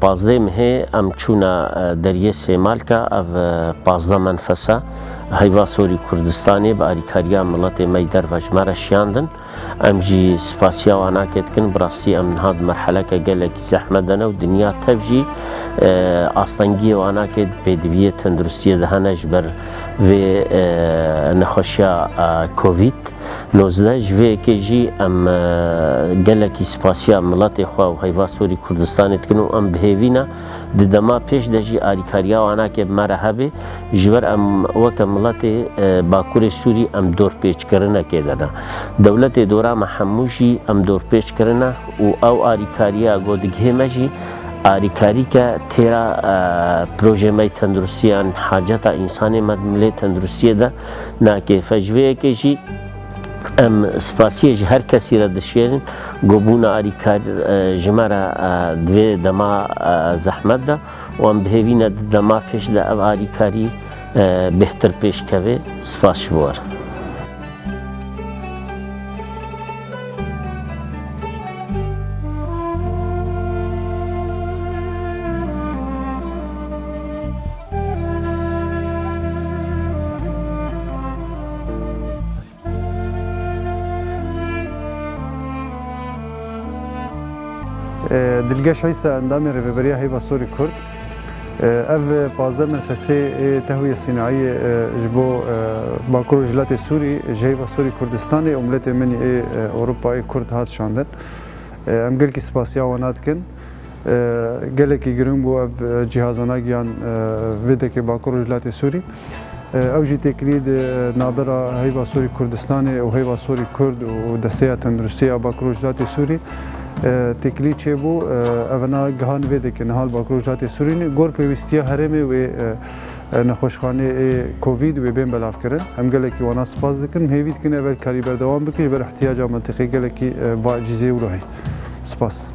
Pazdeh mehê em çûna deriyê Sêmalka, ev pazdeh menfes e. Heyva sorî Kurdistanê bi alîkariya miletê me yî derve ji me re şiyandin. Em jî spasiya wan ake dikin. Bi rastî em niha di merheleke gelekî zehmet de ne û dinya tev jî astengiyê wan ake pêdiviyê tenduristiyê de hene ji ber vê nexweşiya Covid. Nozdeh ji vê yekê jî em gelekî spasiya miletê xwe û heyva sorî Kurdistanê dikin û em bihêvîne di dema pêş de jî alîkariya wan ake bi me re hebe ji ber em weke miletê bakurê Sûrî em dorpêçkirinekê de ne. Dewletê dora me hemû jî em dorpêç kirine û ew alîkariya got digihê me jî alîkarîke têra projê me yê tenduristiyan haceta însanê me di milê tenduristiyê de nakêfe. Ji vê yekê jî em spasiyê ji her kesî re dişêrin ku bûna alîkar ji me re di vê dema zehmet de û em bihêvîne di dema pêş de ev alîkarî bêhtir pêş kevê. Spas ji bo re. Dilge Şaysa endamê Rêveberiya Heyva Sorî Kurd ev pazdeh merxesê tehwiyê sînayî ji bo Bakur û Jilatê Sûrî ji Heyva Sorî Kurdistanê û miletê min ê Ewropayê Kurd hat şandin. Em gelkî spasîya wan dikin. Gelekî giring bû ev cîhazana giyan vêdekê Bakur Rojhilatê Sûrî. Ew jî têkilî di navbera Heyva Sorî Kurdistanê û Heyva Sorî Kurd û Desteya Tenduristî ya Bakur Rojhilatê Sûrî têkilî çêbû. Evina gihan vêdekê niha li Bakur Rojhilatê Sûrî ne. Gor pêwîstiya herêmê wê nexweşxaneyê ê Covid wê bên belavkirin. Em gelekî wana sipas dikin. Hêvî dikin ev elkarî berdewam bike ji ber îhtiyaca mentiqê gelekî va ecîzê wilo heye. Sipas.